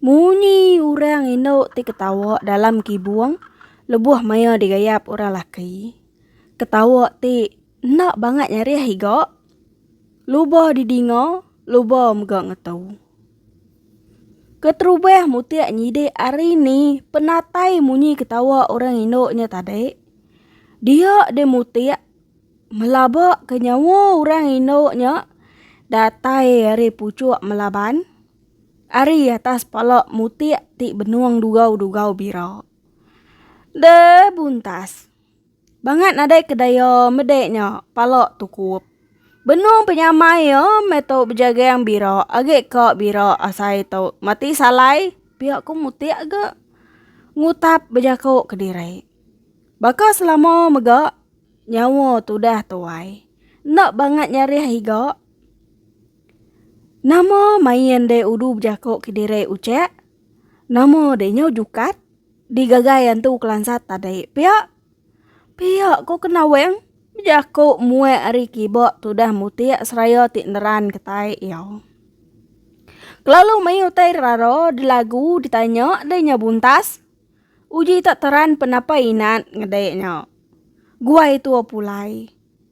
Munyi urang indu ti ketawa dalam kibung lebuh maya digayap urang laki. Ketawa ti enda bangat nyarih iga luba didinga luba mega ngetu. Keterubah mutik nyidi ari ni penatai munyi ketawa urang indu nya tadi. Dia di mutik melaba ke nyawa urang indu nya datai ari puchuk melaban. Ari atas pala mutik ti benung dugau-dugau bira. De buntas. Bangat nadai ke daya mede nya pala tukup. Benung penyamai ia meh tu bejagang bira agi ka bira asai tu mati salai pia ku mutik ga ngutap bejaku kediri. Baka selama mega nyawa tudah tuai enda bangat nyarih iga. Nama main de udu bejako ke diri ucek nama de nyau jukat di gagai antu kelansat tadi pia. Pia ko kena weng bejako muek ari kiba tudah mutik seraya ti neran kitai iya. Kelalu meh utai rara di lagu di tanya de nyau buntas uji tak teran penapa inan ngede nya. Guai tua pulai.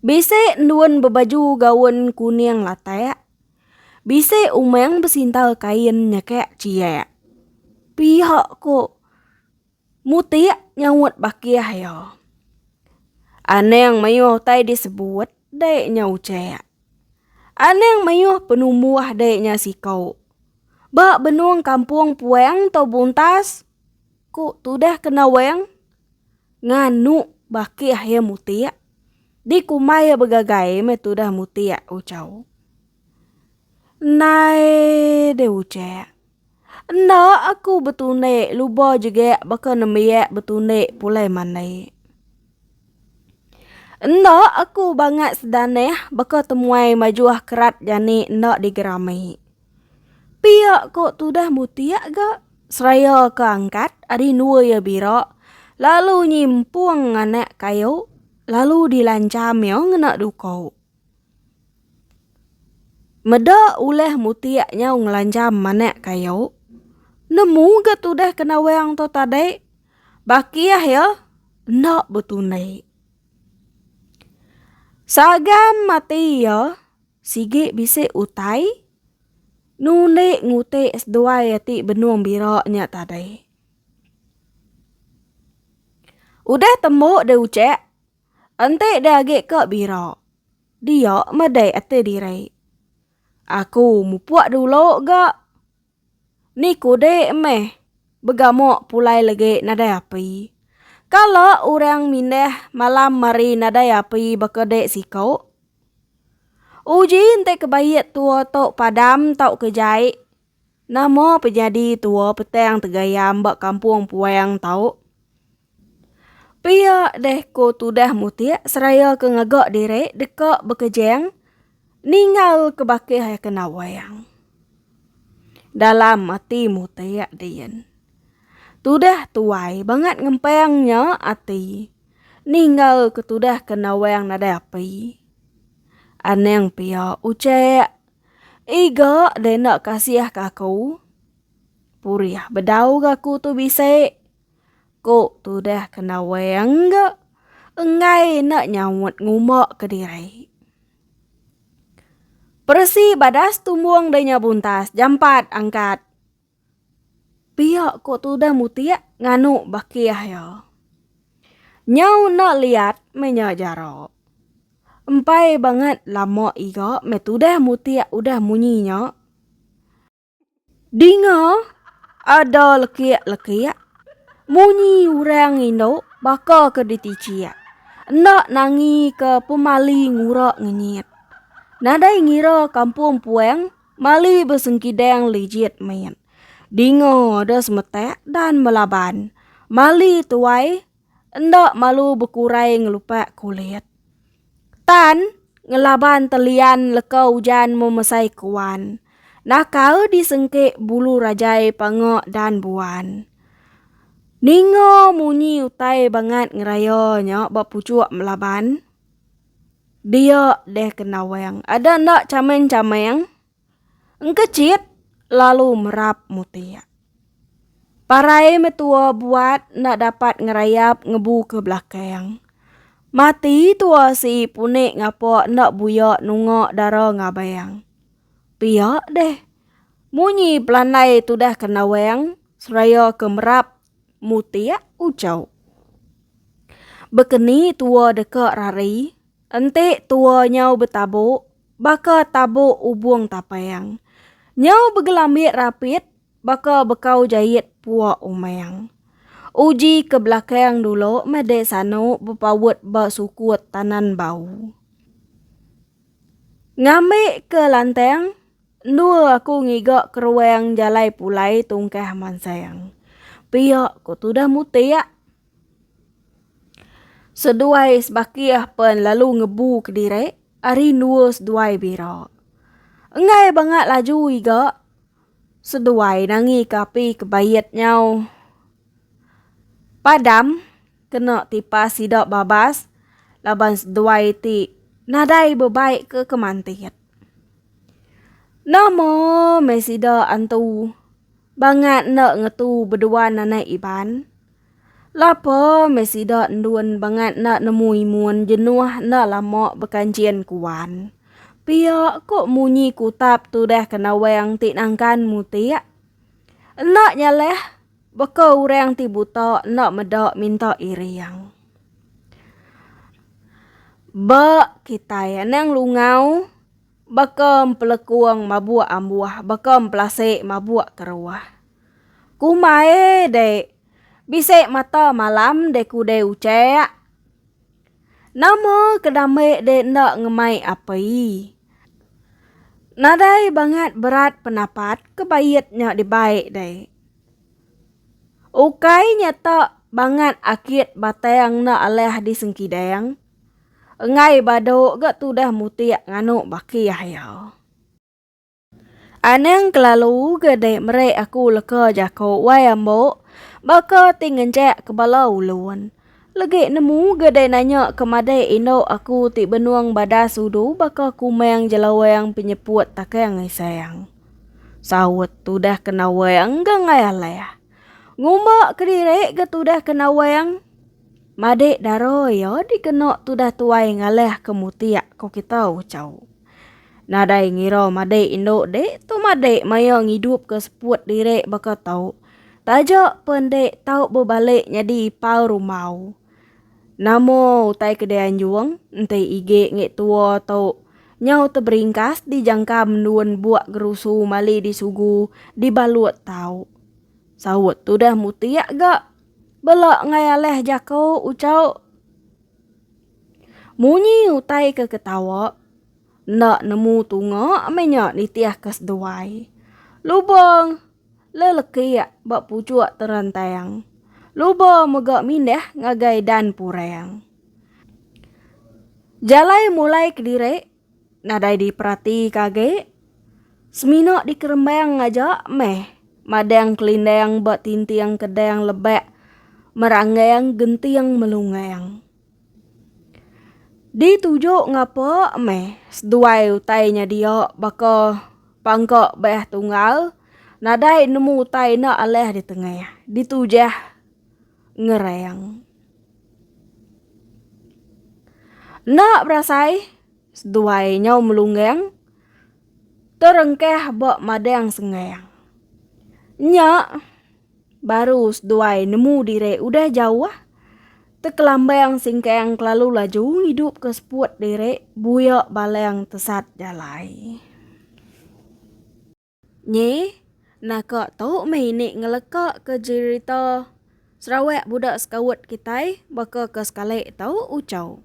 Bisi endun bebaju gaun kuning latak. Bisi umang besintal kain nyekak ciak. Pihak ko mutik nyaut bakih iya. Anang mayuh utai disebut dai nya ucak. Anang mayuh penumbuh dai nya siko. Ba benung kampung puang tau buntas ko tudah ke nawang. Nganu baki akhir mutik. Di kumai ya begagai me tudah mutik ucau. Nai de ucek. Enda aku betunik luba jegek baka nembiak betunik pulai manik. Enda aku bangat sedanah baka temuai majuh kerat jani enda digerami. Pia ko tudah mutiak ga seraya ke angkat ari endua iya bira lalu nyimpung anak kayu lalu dilancham iya ngena duko. Meda ulah mutiak nyau ngelancham anak kayu nemu ga tudah ke nawang tu tadi bakih iya enda betunik. Sagam ati iya. Sigi bisi utai nundi nguti seduai ati benung bira nya tadi. Udah tembu deh ucek, enti deh agi ke bira, dia meda ati diri. Aku mupuk dulu ga. Niku dek meh begamok pulai legi nadai api. Kala urang mindah malam mari nadai api baka dek siko. Uji enti ke baik tua to padam tauka jai. Nama pe jadi tua petang tegayam ba kampung puang to. Pia deh ko tudah mutik seraya ke ngaga diri deka bekejang Ninggal ke bakih ai kena wayang. Dalam ati mutik diin. Tudah tuai bangat ngempang nya ati. Ninggal ke tudah kena wayang nadai api. Anang pia ucek. Iga deh enda kasih ke aku. Purih bedau ke aku tu bisi. Ku tudah kena weng ga enggai enda nyaut nguma kediri. Peresi badas tumbung dei nya buntas jampat angkat. Pia ku tudah mutik nganu bakih ya. Nyau enda liat meh nya jara. Empai bangat lama iga meh tudah mutik udah munyi nya. Dinga ada lekik-lekik munyi urang indu baka ke diticik. Enda nangi ke pemali ngura ngenyit. Nadai ngira kampung puang mali besengkidang lijit mit. Dinga ada semetak dan melaban. Mali tuai enda malu bekurai ngelupak kulit. Tan, ngelaban telian leka ujan memesai kuan. Nakal disengke bulu rajai panga dan buan. Ninga munyi utai bangat ngeraya nya ba puchuk Melaban. Dia deh ke Nawang. Ada enda chameng-chameng? Engkechit lalu merap mutik. Parai metua buat enda dapat ngerayap ngebu ke belakang. Mati tua sii punik ngapa enda buya nunga dara ngabang. Pia deh. Munyi pelandai tudah ke nawang seraya ke merap mutik ujau. Bekeni tua deka rari, enti tua nyau betabuk, baka tabuk ubung tapang. Nyau begelambi rapit, baka bekau jait puak umang. Uji ke belakang dulu meh dek sanu bepaut ba sukut tanan bau. Ngambika lantang. Endor aku ngiga keruang jalai pulai tungkah mansang. Pia ko tudah mutik. Seduai sebakih pen lalu ngebu kediri ari endor seduai bira. Enggai banga laju iga seduai nangi ke api ke bait nyau padam kena tipas sida babas laban seduai ti nadai bebai ke kemantit. Nama meh sida antu bangat enda ngetu beduan anai Iban? Lapa meh sida endun bangat enda nemu imun jenuh enda lama bekanchin ku wan? Pia ko munyi kutap tudah ke nawang ti nangkan mutik? Enda nyaleh. Baka orang ti buta enda meda minta iring. Ba kitai anang lungau baka empelekung mabuk ambuh baka empelasi mabuk keruh. Ku mae dek bisi mata malam dek ku dek ucek. Nama ke dame dek enda ngemai api. Nadai bangat berat penapat ke bait nya dibai dek. Ukai nyata bangat akit batang enda alah di sengkidang, enggai badu ga tudah mutik nganu bakih iya. Anang kelalu ga dei meri aku leka jaku wai ambo baka ti ngenjak ke bala ulun. Legek nemu gedai nanya ke madai indu aku ti benung badas udu baka kumang jelawang penyeput takang isang. Saut tudah ke nawang ganggai alah. Ngumba kedirik ga tudah ke nawang. Madik dara ia dikena tudah tuai ngalah ke mutik ko kita ucau. Nadai ngira madik indu dik tu madik maya ngidup ke seput dirik baka tau. Taja pe ende tau bebalik nyadi ipau rumau. Nama utai ke dianjung enti igi ngi tua tu nyau teberingkas di jangka mendun buk gerusu mali di sugu di balut tau. Saut tudah mutik ga bela enggai alah jako ucau. Munyi utai ke ketawa enda nemu tunga meh nya nitih ke seduai. Lubong. Lelekiak ba puchuk terantang. Luba mega mindah ngagai dan purang. Jalai mulai kediri nadai diperatika agi. Semina dikerembang aja meh madang kelindang ba tinting kedang lebak meranggang genting melunggang. Dituju ngapa meh seduai utai nya dia baka pangka beeh tunggal nadai nemu utai enda alih ditengah ditujah ngereng. Enda berasai seduai nyau melunggeng terengkah ba madang sengang nya. Baru seduai nemu diri udah jauh, Tekelambang Singkang kelalu laju ngidupka seput diri buya balang tesat jalai. Nyi, naka tu meh ini ngelekaka jerita Sarawak Budak Sekaut kitai baka ke sekali tu Uchau.